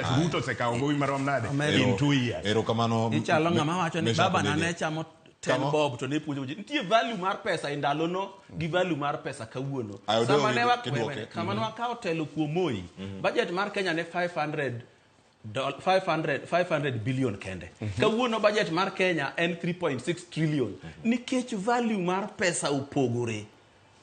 Ruto osekawo gowi marom nade Omero. in two years. Erokamano. ichalo ng'ama wacho ni Meshack baba na Odede. ne chamo ten Kama- bob to ne puonjo ji nitie value mar pesa e ndalono gi value mar pesa kawuono Ayo, Deo, sama ne wa- kidwoke. wewe, kama ne wakawo telo kuom moi budget mar kenya ne 500 doll- 500 500 billion kende kawuono budget mar kenya en 3.6 trillion nikech value mar pesa opogore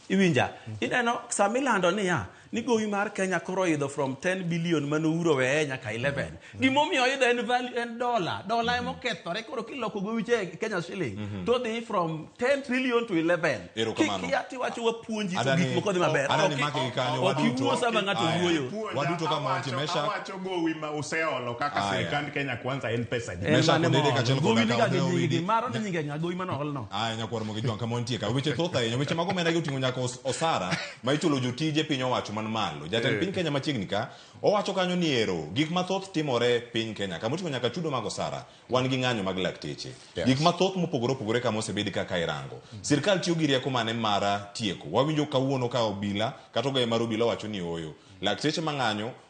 Iwinja? Ineno sama ilando niya, ni gowi mar Kenya koro oidho from 10 billion mane Uhuru oweye nyaka 11. Gima omiyo oidho en value en dola. Dola ema okethore koro kiloko gowi cha e Kenya shilling to dhi from 10 trillion to 11. Erokamano. Kikia tiwacho wapuonji to Adani- gik moko dhi maber. adani Ok- make gi kanyo, Ok waduto. iwuo sama ng'ato Aya. wuoyo. Puonja, Waduto kama awacho, wantie, Mesha. awacho. gowi ma useolo kaka Aya. sirikand Kenya Kwanza en pesa di. En Mesha mane Kodede mool. kaachiel kod Gowi ni Akaw ka gi Deo nyingi, Widi. maro ni nyinge ng'a, gowi mane ool no. Aya nyakwar mogi jwanka montie ka weche thoth ahinya weche mag omenda gi oting'o nyaka os- osara ma ichulo jotije piny owacho man malo jatend piny Kenya machiegni ka owacho kanyo ni ero gik mathoth timore piny Kenya kama oting'o nyaka chudo mag osara wan gi ng'anyo mag lakteche Yes. gik mathoth mopogore opogore kama osebedi kaka irango sirkal tiyo gi rieko mane mara tieko wawinjo kawuono ka obila kata ogaye mar obila wacho ni oyo lakteche mang'anyo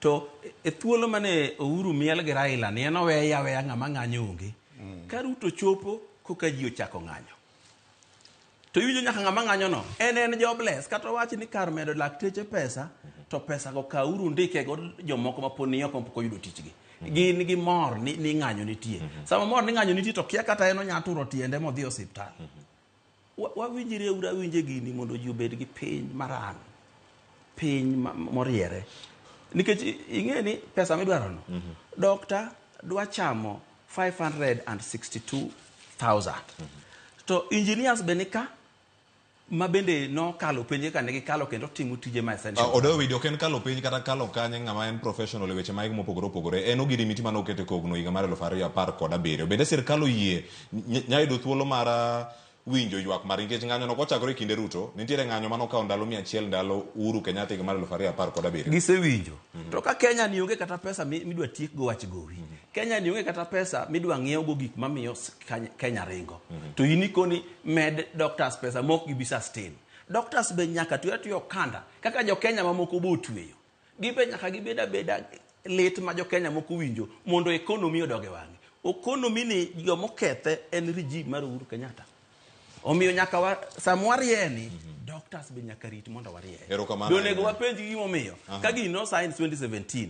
To e thuolo mane Ouru miel gi Raila ni en oweye aweya ng'ama ng'anyo onge. Mm. Ka Ruto chopo koka ji ochako ng'anyo. To iwinjo nyaka ng'ama ng'anyo no en en jobless kata wach ni kar medo lakteche pesa to pesa go ka uru ndike go jomoko ma poni oko pok oyudo tichgi. Mm. Gin gi mor ni, ni ng'anyo nitie. Mm-hmm. Sama mor ni ng'anyo nitie to kia kata en onya turo tiende modhi osiptal. Mm-hmm. Wawinjre ura winje gini mondo ji obed gi piny maran, piny moriere. Nikech ing'e ni pesa midwaro no, mhm. dokta dwa chamo 562,000. Mhm. To engineers be nika, ma bende nokalo penje kane gikalo kendo timo tije ma essential. Uh, ah, Odo video ken kalo penj kata kalo kanye ng'ama en professional e weche maik mopogore opogore. En ogirimiti mane okete kogno higa mar 2017. Bende sirkal oyie Ny- nyayudo thuolo mar ah, winjo ywak mar nikech ng'anyo no kochakore e kinde ruto nitiere ng'anyo mane okawo ndalo mia achiel ndalo uhuru kenyatta higa mar elfu ariyo apar kod abiriyo gisewinjo to ka kenya ni onge kata pesa mi- midwa tiek go wach gowi kenya ni onge kata pesa midwa ng'iew go gik mamiyo s- Kany- kenya ringo to in ikoni med doctors pesa mok gibi sustain doctors be nyaka tuya tuya okanda kaka jo kenya mamoko be otweyo Gibe nyaka gibed abeda lit ma jo Kenya moko winjo mondo economy odog e wang'e. Economy ni joma okethe en regime mar Uhuru Kenyatta. Omiyo nyaka wa, sama warieni, doctors be nyaka rit mondo warie. Erokamano Be onego ahinya. wapenj gima omiyo. Aha. Ka gini nosain 2017,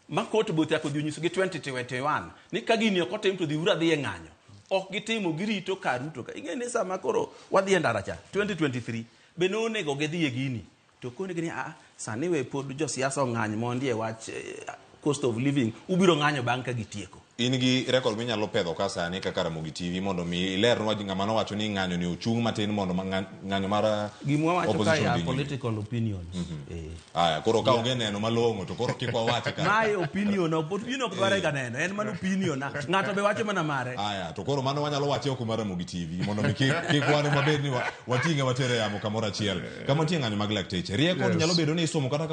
ma court both yako dhi onyisogi 2021 ni ka gini ok otim to dhi ura dhi e ng'anyo. Ok gitimo, girito ka Ruto ka. Ing'e ni sama koro wadhi e ndara cha, 2023, be nonego gidhi e gini. To okonegi ni a sani we pod josiasa ong'any mondi e wach eh, cost of living, ubiro ng'anyo bang' ka gitieko. in gi rekod minyalo pedho ka sani kaka Ramogi TV mondo mi ilernwa gi ng'ama nowacho ni ng'anyo ni ochung' matin mondo ma- ng'a- ng'anyo mar uh, Gimwa wacho ka opposition ya dhi nyime. political opinions. Eh. Aya, koro ka onge neno malong'o to koro kik wawache ka. Mae opinion, ok- opinion ok dware ga neno, en mana opinion. na- Ng'ato be wacho mana mare. Aya, to koro mano wanyalo wache oko mar Ramogi TV mondo mi kik kik wane mabed ni wa- wating'e watere yamo kamoro achiel kama nitie ng'anyo mag lakteche rieko to nyalo bedo ni isomo kata ka